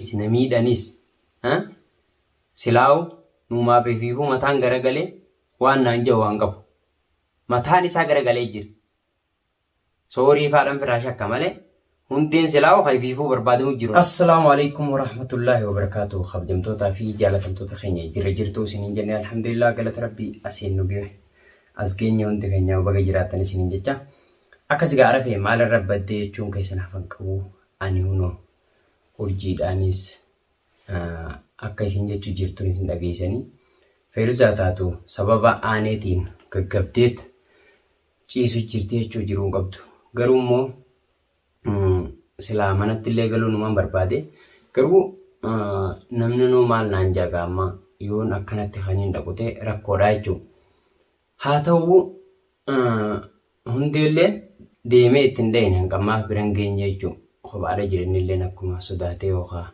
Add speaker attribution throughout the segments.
Speaker 1: si na miidhanis ha silaawu nuumaaf efiifuu mataan garagalee waan naan ja'u waan qabu mataan isaa garagalee jira soorii faadhan firaa shakka malee hundeen silaawu ka efiifuu barbaadamu jiru assalaamu alaikum warahmatullaahi wabarakaatu kabjamtootaa fi jaalatamtoota keenya jirra jirtuu isiniin jenne alhamdulillah galata rabbii asiin nu ga'e as geenye hundi keenya baga jiraattan isiniin jecha akkas gaara fee maalirra baddee jechuun keessan hafan qabu ani hunoo urjiidhaanis akka isin jechu jirtuun isin dhageessanii Feeruzaa taatu sababa aaneetiin gaggabdeet ciisu jirti jechuu jiruu hin qabdu. Garuu immoo silaa manatti illee galuu numaan barbaade garuu namni nuu maal naan jaga amma yoon akkanatti kaniin dhaqute rakkoodha jechuudha. Haa ta'u hundeelleen deemee itti hin dhayne hanga ammaaf bira hin geenye jechuun kophaadha jirenilleen akkuma sodaatee yookaan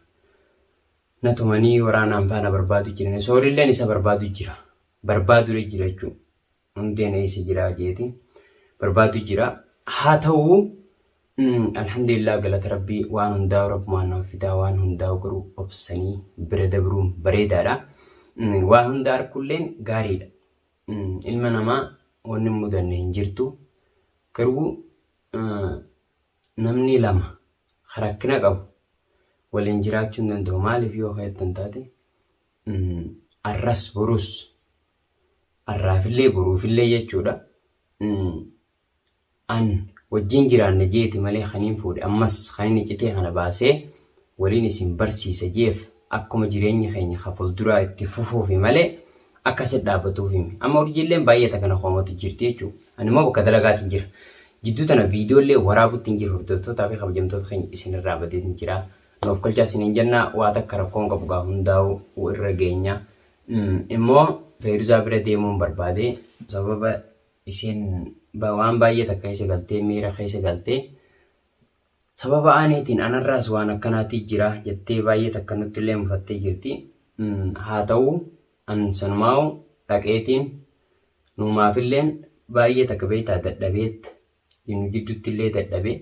Speaker 1: na tumanii waraanaan faana barbaadu jiran soorilleen isa barbaadu jira barbaadudha jira jechuun hundeen eessa jira jeeti barbaadu jira haa ta'u alhamdulillah galata rabbii waan hundaa'u rabbumaan nama fidaa waan hundaa'u garuu obsanii bira dabruun bareedaadha waan hunda arkulleen gaariidha ilma namaa wanni hin mudanne hin jirtu. Garuu namni lama rakkina qabu waliin jiraachuu hin danda'u. Maaliif yoo keettan taate arras borus arraafillee boruufillee jechuudha. an wajjin jiraanna jeeti malee kaniin fuudhe ammas kanin icitee kana baasee waliin isin barsiisa jeef akkuma jireenyi keenya ka fulduraa itti fufuufi malee akka sit dhaabatuufi mi amma urjiilleen baay'ee takka na koomatu jirti jechuu ani immoo bakka dalagaatiin jira jidduu tana viidiyoollee waraabuttiin jira hordoftootaa fi kabajamtoota keenya isinirraa badeetiin jira nu of kolchaa isiniin jenna waa takka rakkoon qabu gaa hundaa'u irra geenya immoo feeruzaa bira deemuun barbaade sababa isiin waan baay'ee takka keessa galtee miira keessa galtee sababa aaniitiin anarraas waan akkanaatii jira jettee baay'ee takka nutti illee mufattee jirti. Haa ta'u an sanumaa'u dhaqeetiin nuumaafilleen baay'ee takka beektaa dadhabeet nu jidduutti illee dadhabe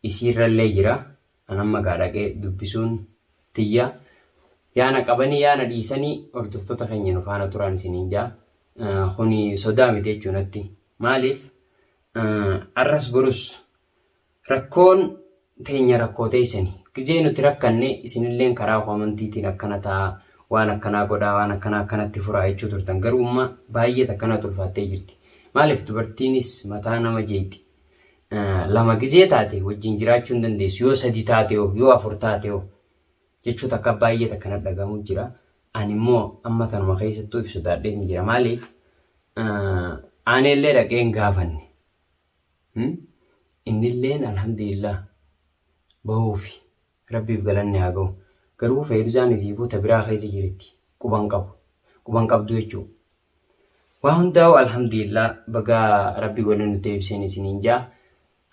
Speaker 1: isiirrallee jira an amma gaa dhaqee dubbisuun tiyya yaa na qabanii yaa na dhiisanii hordoftoota keenya nu faana turaan isiniin jaa kuni sodaa miti jechuu natti maaliif arras borus rakkoon teenya rakkoo teessani gizee nuti rakkanne isinilleen karaa koomantiitiin akkana ta'a waan akkanaa godhaa waan akkanaa akkanatti furaa jechuu turtan garuu amma baay'ee takkanaa tulfaattee jirti maaliif dubartiinis mataa nama jeetti lama gizee taate wajjin jiraachuu hin dandeessu yoo sadi taate hoo yoo afur taate hoo jechuu takka baay'ee takka na dhagahamu jira ani immoo amma tanuma keessattuu if sodaadhee hin jira maaliif aaneellee dhaqee hin gaafanne innilleen alhamdulillah bahuufi rabbiif galanni haa gahu garuu fayyadusaan fi fuuta biraa keessa jirti quban qabu quban qabdu jechuudha. Waa hundaa'u alhamdulillah bagaa rabbi wali nu deebiseen isiniin jaa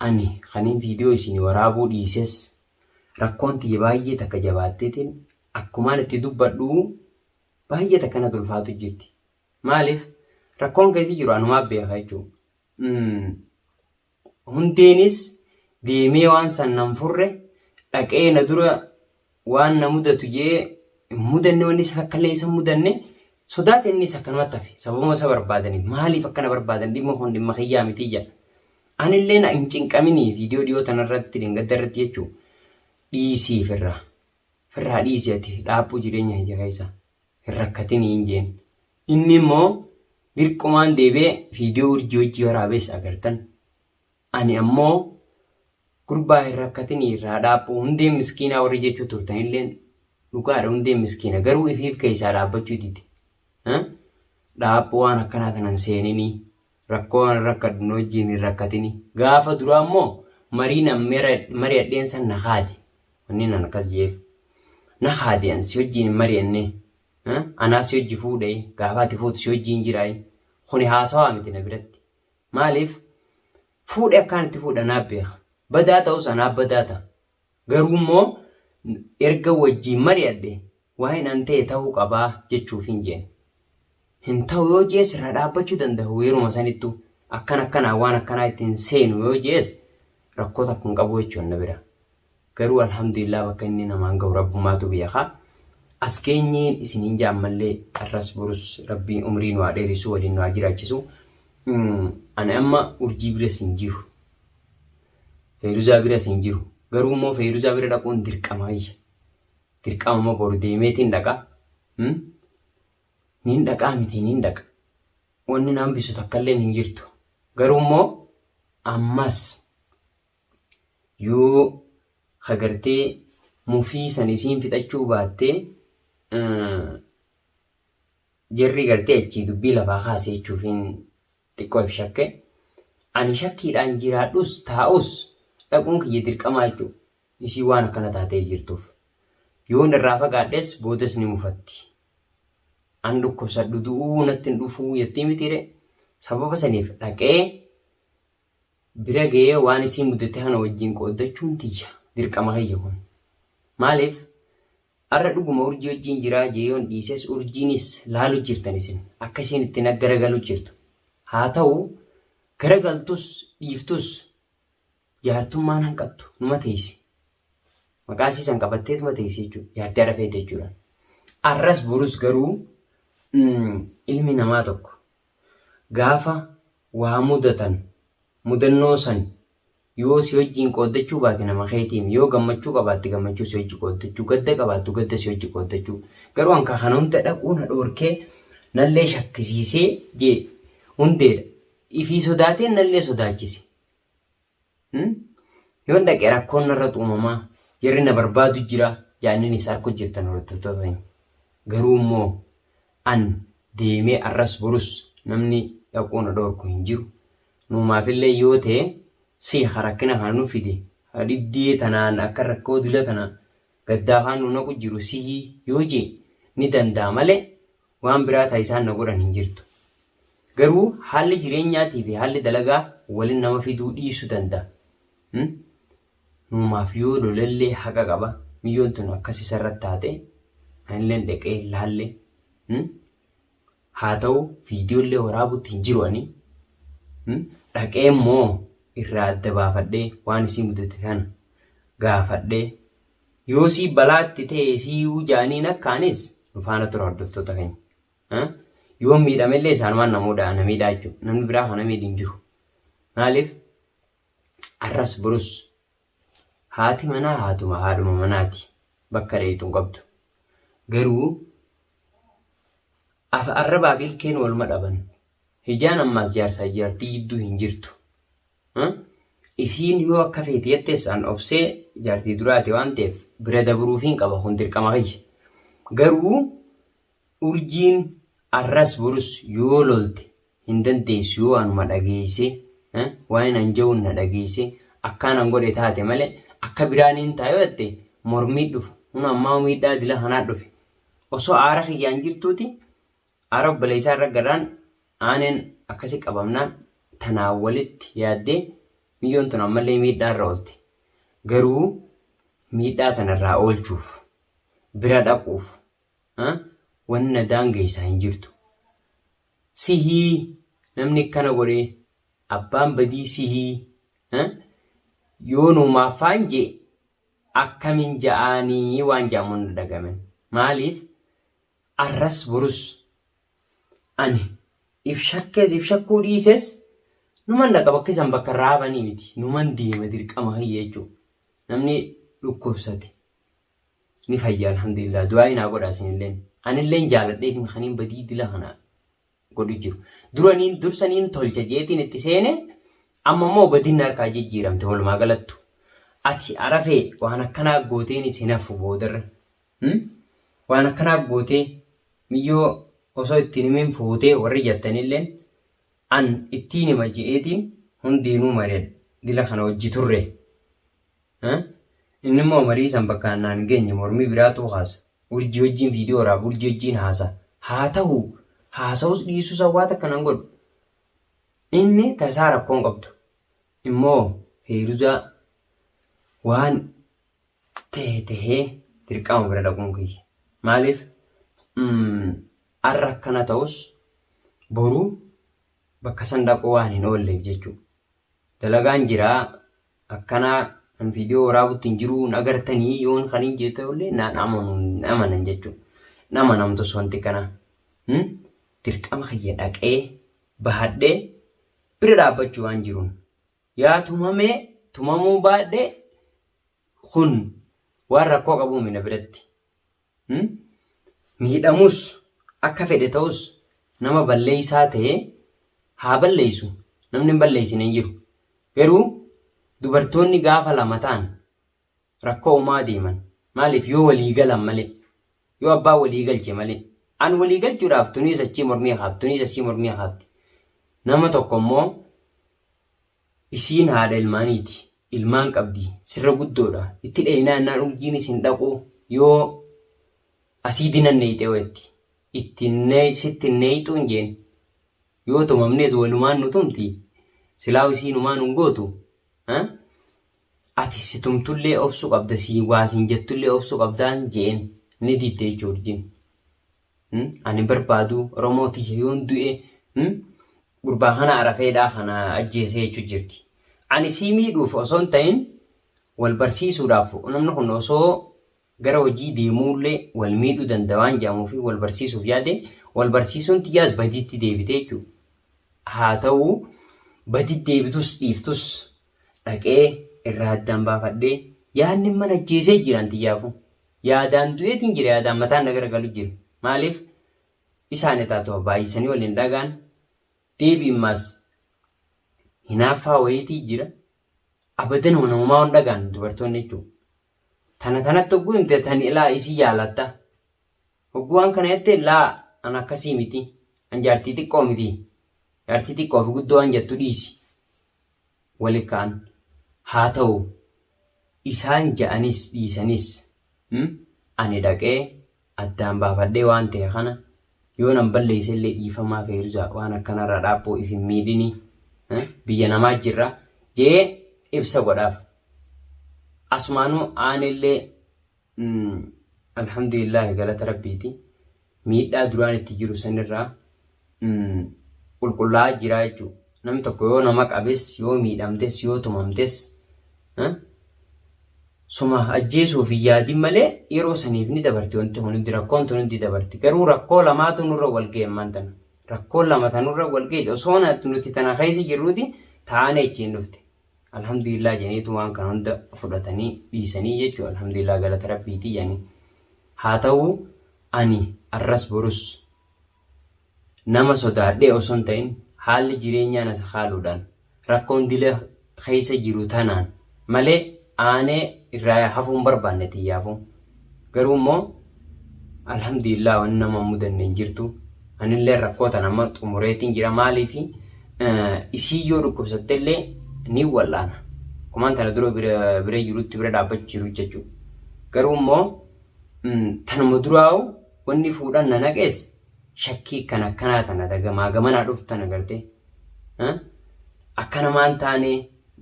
Speaker 1: ani kanin viidiyoo isinii waraabuu dhiises rakkoon tiyya baay'ee takka jabaatteetiin akkumaan itti dubbadhu baay'ee takka natti ulfaatu jirti maaliif rakkoon keessi jiru anumaa beeka jechuudha. Hundeenis deemee waan san nan furre, dhaqee na dura waan na mudatu je'ee hin mudanne, wanni isa takkallee isa hin mudanne, sodaate innis akkanumatti hafe. Sababuma isa barbaadaniif, maaliif akka na barbaadan dhimma kun dhimma kiyyaa miti je'a. Anilleen hin cinqaminii viidiyoo dhiyoo tanarratti dhengadda irratti jechuu dhiisii firraa. Firraa dhiisii ati dhaaphuu jireenya kiyya keessa. hin rakkatini hin jeen. Inni immoo dirqumaan deebi'ee viidiyoo urjii hojii waraabees agartan. Ani ammoo gurbaa hin rakkatini irraa dhaabbu hundeen miskiinaa warri jechuu turtanilleen dhugaadha hundeen miskiina garuu ifiif keessaa dhaabbachuu dide. Dhaabbu waan akkanaa tanan seenini Rakkoo an rakkadhu na wajjiin hin rakkatini. Gaafa duraa immoo mariin an mari'adheen san na kaade. Wannin an akkas je'eef. Na kaade an si wajjiin hin mari'anne. Anaa si wajji fuudhe gaafa ati fuutu si wajjiin jira. Kuni haasawaa miti na biratti. Maaliif fuudhe akkaan itti fuudhe anaaf beeka. Badaa ta'us anaaf badaa ta'a. Garuu immoo erga wajjiin mari'adhe waa'een an ta'e ta'uu qabaa jechuuf hin jeen. Hin ta'u yoo jees irraa dhaabbachuu danda'u yeruma sanittu akkan akkanaa waan akkanaa itti hin seenu yoo jees rakkoo takka hin qabu jechuun na bira. Garuu alhamdulillah bakka inni namaan gahu rabbummaatu beekaa. As geenyeen isin hin jaan mallee arras borus rabbiin umrii nu haa dheeressu waliin nu haa jiraachisu. Ani amma urjii biras hin jiru. Feeruzaa biras hin jiru. Garuu immoo Feeruzaa bira dhaquun dirqama ayya. Dirqama immoo boru deemeetiin dhaqa. Hmm? Niin dhaqaa miti niin dhaqa. Wanni naan bisu takkalleen hin jirtu. Garuu immoo ammas yoo hagartee mufii san isiin fixachuu baattee eh, jarri gartee achii dubbii lafaa kaase jechuufiin xiqqoo if shakke. Ani shakkiidhaan jiraadhus taa'us dhaquun kiyya dirqamaa jechuudha. Isiin waan akkana taatee jirtuuf. Yoon irraa fagaadhes boodas ni mufatti. An dhukkubsadhu du'uu natti hin dhufuu jettii mitiiree? Sababa saniif dhaqee bira ga'ee waan isii mudate kana wajjin qooddachuun tiyya dirqama kiyya kun. Maaliif arra dhuguma urjii wajjin jiraa jee yoon dhiises urjiinis laalu jirtan isin akka isiin itti na garagalu jirtu. Haa ta'u garagaltus dhiiftus jaartummaan hanqattu numa teessi. Maqaa isii san qabatteetuma teessi jechuudha. Jaartii arra feete jechuudha. Arras borus garuu ilmi namaa tokko Gaafa waa mudatan mudannoo san yoo si wajjiin qooddachuu baate nama keetiim. Yoo gammachuu qabaatte gammachuu si wajji qooddachuu, gadda qabaattu gadda si wajji qooddachuu. Garuu an kaa kana hunda dhaquu na dhoorkee nallee shakkisiisee jee Hundeedha. Ifii sodaateen nallee sodaachise. Yoon dhaqe rakkoon narratti uumamaa jarri na barbaadu jira jaanninis harka hojjettan hojjettoota ta'in. Garuu immoo an deemee arras borus namni dhaquu na dhoorku hin jiru. Nuumaafillee yoo ta'e si rakkina kana nu fide dhibdee tanaan akka rakkoo dila tana gaddaa kaan nu naqu jiru sihi yoo jee ni dandaa male waan biraa ta isaan na godhan hin jirtu garuu haalli jireenyaati fi haalli dalagaa walin nama fiduu dhiisu danda, a nuumaaf yoo lolellee haqa qaba miyyoon tun akkas isarrat taate anilleen dhaqee hin laalle Haa ta'uu video illee waraabutti hin jiru ani. Dhaqee immoo irraa adda baafadhee waan isii mudate sana gaafadhee yoo sii balaatti ta'e siiyuu jaaniin akkaanis nu faana tura hordoftoota keenya. Yoo miidhame illee isaanumaan namoota na miidhaa jechuudha. Namni biraa kana miidhi hin jiru. Maaliif? Arras borus Haati manaa haatuma haadhuma manaati bakka dheeyxu hin qabdu. Garuu afa arrabaa fi ilkeen wal madhaban. Hijaan ammaas jaarsaa fi jaartii jidduu hin jirtu. Isiin yoo akka feete jettes an obsee jaartii duraati waan ta'eef bira dabruufiin qaba kun dirqama kiyya. Garuu Urjiin arras borus yoo lolte hin dandeessu yoo anuma dhageesse eh, waa'een an ja'uun na dhageesse akkaan an godhe taate malee akka biraa niin ta'a yoo jette mormii dhufa huna ammaa miidhaa dila kanaa dhufe osoo aara kiyyaan jirtuuti aara obboleessaa irra garaan aaneen akkasi qabamnaan tanaa walitti yaaddee miyyoon tun ammallee miidhaa irra oolte garuu miidhaa tanarraa oolchuuf bira dhaquuf Wanni na daangeysa hin jirtu. Sihii namni akkana godhe abbaan badii sihii yoo nuumaaf faan je'e akkamiin ja'aanii waan ja'amu na dhagamen. Maaliif arras borus ani if shakkees if shakkuu dhiises numan dhaqa bakka isan bakka irraa hafanii miti numan deema dirqama kiyya jechuudha. Namni dhukkubsate ni fayya alhamdulillah du'aayi naa godhaa sinilleen anilleen jaaladheetiin kaniin badii dila kana godhu jiru duraniin dursaniin tolcha jeetiin itti seene amma immoo badinni harkaa jijjiiramte walumaa galattu ati arafee waan akkanaa gooteen isin hafu boodarra hmm? waan akkanaa gootee miyyoo osoo ittiin himin fuutee warri jattanilleen an ittiin hima je'eetiin hundiinuu mari'adhe dila kana hojji turre Inni immoo marii san bakkaan naan geenye mormii biraatuu kaasa. Urjii wajjiin viidiyoo waraaba, urjii wajjiin haasa. Haa tahu haasa'us dhiisuu san waa takka nan godhu. Inni tasaa rakkoon qabdu. Immoo Feeruzaa waan tahe tahee dirqama bira dhaquun kiyya. Maaliif har'a akkana ta'us boruu bakka san dhaquu waan hin oolleef jechuudha. Dalagaan jiraa akkanaa an viidiyoo waraabutti hin jiru hin agartanii yoon kan hin jette ollee naan amanu hin amanan jechuudha. Hin amanamtus wanti kana. Hmm? Dirqama kiyya dhaqee bahadhee bira dhaabbachuu waan jiruun. Yaa tumamee tumamuu baadhee kun waan rakkoo qabu mina biratti. miidhamus akka fedhe ta'us nama balleessaa ta'e haa balleessu namni hin balleessine hin jiru. Garuu dubartoonni gaafa lama ta'an rakkoo uumaa deeman maaliif yoo walii galan malee yoo abbaa walii galche malee an walii galchuudhaaf tuniis achii mormii kaafti tuniis achii mormii kaafti nama tokko immoo Isiin haadha ilmaaniiti. Ilmaan qabdi. Sirra guddoodha. Itti dheeynaa ennaan urjiin isin dhaqu yoo asiidii nan neeyxee weetti. Itti sitti hin neeyxuun jeen. Yoo tumamnees walumaan nu tumti. Silaaw isiin humaa nun gootu. Ati si tumtullee obsu qabda si waa siin jettullee obsu qabdaan jeen. Ni didde jechuudha urjiin. Hmm? Ani barbaadu Oromoo tiyya yoon du'e hmm? gurbaa kana arafeedhaa kana ajjeesee jechuu jirti. Ani sii miidhuuf osoo hin ta'in wal barsiisuudhaaf namni kun osoo gara hojii deemuullee wal miidhuu danda'a waan jedhamuu fi wal barsiisuuf yaade wal barsiisuun tiyyaas badiitti deebite jechuudha. Haa ta'u badii deebitus dhiiftus dhaqee irraa addaan baafadhee yaadni mana ajjeesee jiran tiyyaafu. Yaadaan du'eetiin jira yaadaan mataan na garagalu jira. Maaliif isaan etaa too baay'isanii wal hin dhagaan deebiin maas hinaaffaa wayiitii jira. Abadan wana homaa hin dhagaan dubartoonni jechuudha. Tana tanatti hogguu himte tani ilaa isii jaalatta. Hogguu waan kana jette laa an akkasii miti. An jaartii xiqqoo miti. Jaartii xiqqoo fi guddoo waan jettu dhiisi. wali ka'an. Haa ta'u, isaan ja'anis dhiisanis, ani dhaqee addaan baafadhee waan ta'e kana yoonan balleeyse illee dhiifamaa Feeruza waan akkanarraa dhaaphoo if hin miidhini, biyya namaa jirra je'ee ibsa godhaaf. Asumaanuu aanillee. Alhamdulillaahi galata Rabbiiti. Miidhaa duraan itti jiru sanirraa qulqullaa'aa jira jechuudha. Namni tokko yoo nama qabes, yoo miidhamtes, yoo tumamtes suma ajjeesuuf hin yaadin malee yeroo saniif ni dabarti wanti kun hundi rakkoon tun hundi dabarti. Garuu rakkoo lamaatu nurra wal ga'e ammaan tana. Rakkoon lama tanurra wal ga'e osoo nuti tana keessa jirruuti taa'anii achiin dhufte. alhamdulillah jeneetu waan kana hunda fudhatanii dhiisanii jechuudha alhamdulillah galata rabbiitii yani haa ta'u ani arras borus nama sodaadhee osoo hin ta'in haalli jireenyaa na sakaaluudhaan rakkoon dila keessa jiru tanaan malee aanee irraa hafuun barbaanne tiyyaafuu Garuu immoo alhamdulillah waan nama mudanne hin jirtu. Anillee rakkoo tan amma xumureetiin jira maaliif isii yoo dhukkubsattellee ni wal'aana. Kumaan tana dura bira jirutti bira dhaabbachuu jiru jechuudha. Garuu immoo tanuma duraa'u wanni fuudhan na naqees shakkii kan akkanaa tana dagamaa gamanaa dhuftu tana gartee. Akkana maan taane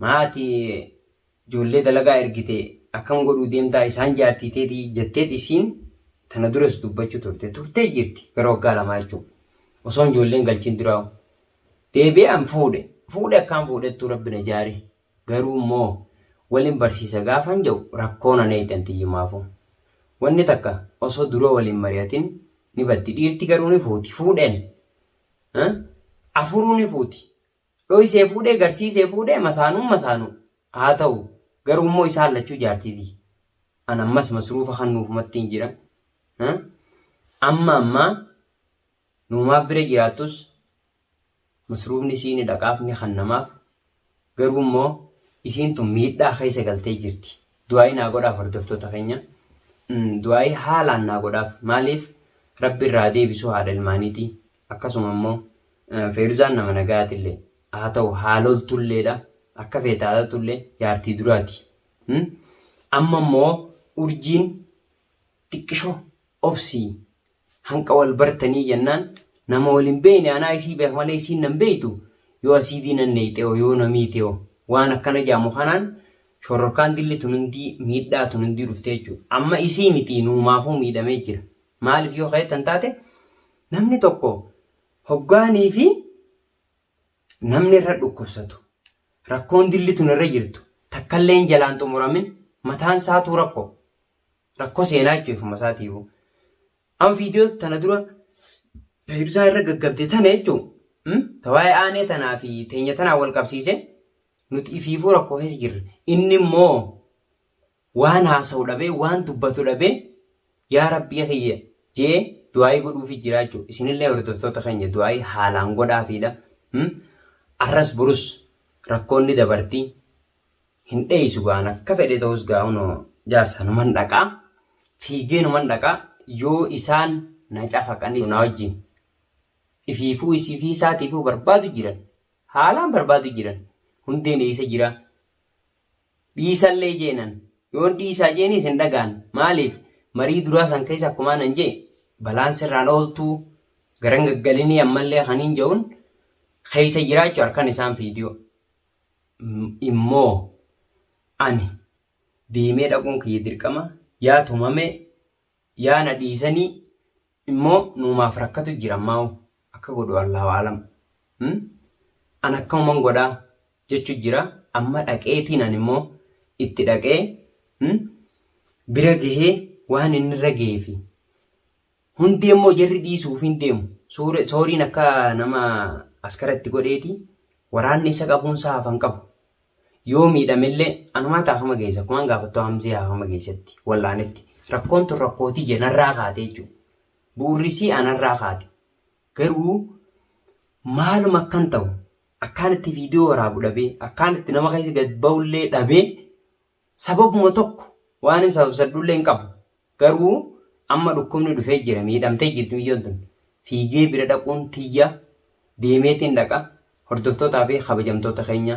Speaker 1: maatii ijoollee dalagaa ergite akkam godhuu deemtaa isaan jaartii teetii jetteet isiin tana duras dubbachuu turte turtee jirti gara waggaa lamaa jechuudha. Osoon ijoolleen galchiin duraa deebi'aan fuudhe fuudhe akkaan fuudhettuu rabbi na jaare garuu immoo waliin barsiisa gaafan jedhu rakkoo na neeyxan tiyyumaafuu. Wanni takka osoo dura waliin mari'atin ni baddi dhiirti garuu ni fuuti fuudheen afuruu ni fuuti Dhoysee fuudhee garsiisee fuudhee masaanuun masaanuu. Haa ta'u, garuu immoo isaan lachuu jaartii tiyya. An ammas masruufa kannuufumattiin jira. Ha? Amma ammaa nuumaaf bira jiraattus masruufni isii ni dhaqaaf ni kannamaaf. Garuu immoo isiin tun miidhaa keessa galtee jirti. Du'aa'ii naa godhaaf hordoftoota keenya. Mm, Du'aa'ii haalaan naa godhaaf. Maaliif? Rabbi irraa deebisuu haadha ilmaaniitii. akkasuma immoo Feeruzaan nama nagaatillee haa ta'u haa loltulleedha akka feete haa ta'utullee jaartii duraati. Amma immoo urjiin xiqqishoo obsii hanqa wal bartanii jennaan nama wal hin beekne anaa isii beeka malee isiin nan beektu yoo asiidii nan neeyxeeho yoo na miiteeho waan akkana jaamu kanaan shororkaan dilli tun hundii miidhaa tun hundii dhuftee jechuudha. Amma isii mitii nuumaafuu miidhamee jira. Maaliif yoo keettan taate namni tokko hoggaanii fi namni irra dhukkubsatu rakkoon dilli tun irra jirtu takkalleen jalaan xumuramin mataan isaatuu rakkoo rakkoo seenaa jechuun ifuma isaatiifu. Amma viidiyoo tana dura fayyidusaan irra gaggabde tana jechuun ta waa'ee aanee tanaa fi teenya tanaa wal qabsiise nuti ifiifuu rakkoo keessa jirra. Inni immoo Waan haasa'u dhabee, waan dubbatu dhabee yaa Rabbii kiyya je'ee du'aa'ii godhuufii jira jechuudha. Isinillee hordoftoota keenya du'aa'ii haalaan godhaafiidha. Arras burus rakkoon ni dabarti. Hin dheeysu ga'an akka fedhe ta'us ga'an jaarsa numan dhaqaa. Fiigee numan dhaqaa yoo isaan na cafaqanii na wajjin. Ifiifuu isifii isaatiifuu barbaadu jiran. Haalaan barbaadu jiran. Hundeen eeysa jiraa? dhiisallee jeenan yoon dhiisaa jeenis hin dhagaan maaliif marii duraa san keessa akkumaan an jee balaan sirraan ooltuu garan gaggalinii ammallee kaniin ja'un keessa jiraachu harkan isaan fiidiyoo immoo ani deemee dhaquun kiyya dirqama yaa tumamee Yaa na dhiisani immo nuumaaf rakkatu jira ammaa'u akka godhu Allahu a'alam hmm an akkamuman godha jechu jira amma dhaqeetiin an immo itti dhaqee hmm bira gahee waan inni irra gahee fi hundee immoo jarri dhiisuuf hin deemu Suure- sooriin akka nama askara itti godheeti waraanni isa qabuun isaa hafan qabu Yoo miidhamellee anumaa taafama geessa akkumaan gaafattu hamsee haafama geessatti wallaanetti rakkoon tun rakkootii jee narraa kaate jechuudha. Bu'urrisii anarraa kaate. Garuu maaluma akkan ta'u akkaan itti viidiyoo waraabu dhabee akkaan itti nama keessa gad ba'ullee dhabee Sababuma tokko waanin sababsadhullee hin qabu. Garuu amma dhukkubni dhufee jira miidhamtee jirti micyoon tun. Fiigee bira dhaquun tiyya deemeetiin dhaqa hordoftootaa fi kabajamtoota keenya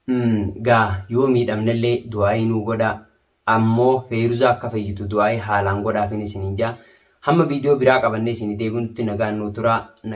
Speaker 1: mm, gaa yoo miidhamnellee du'aayii nuu godhaa ammoo feeruzaa akka fayyitu du'aayii haalaan godhaafin isiniin jaa hamma viidiyoo biraa qabannee isinii deebinutti nagaan nuu turaa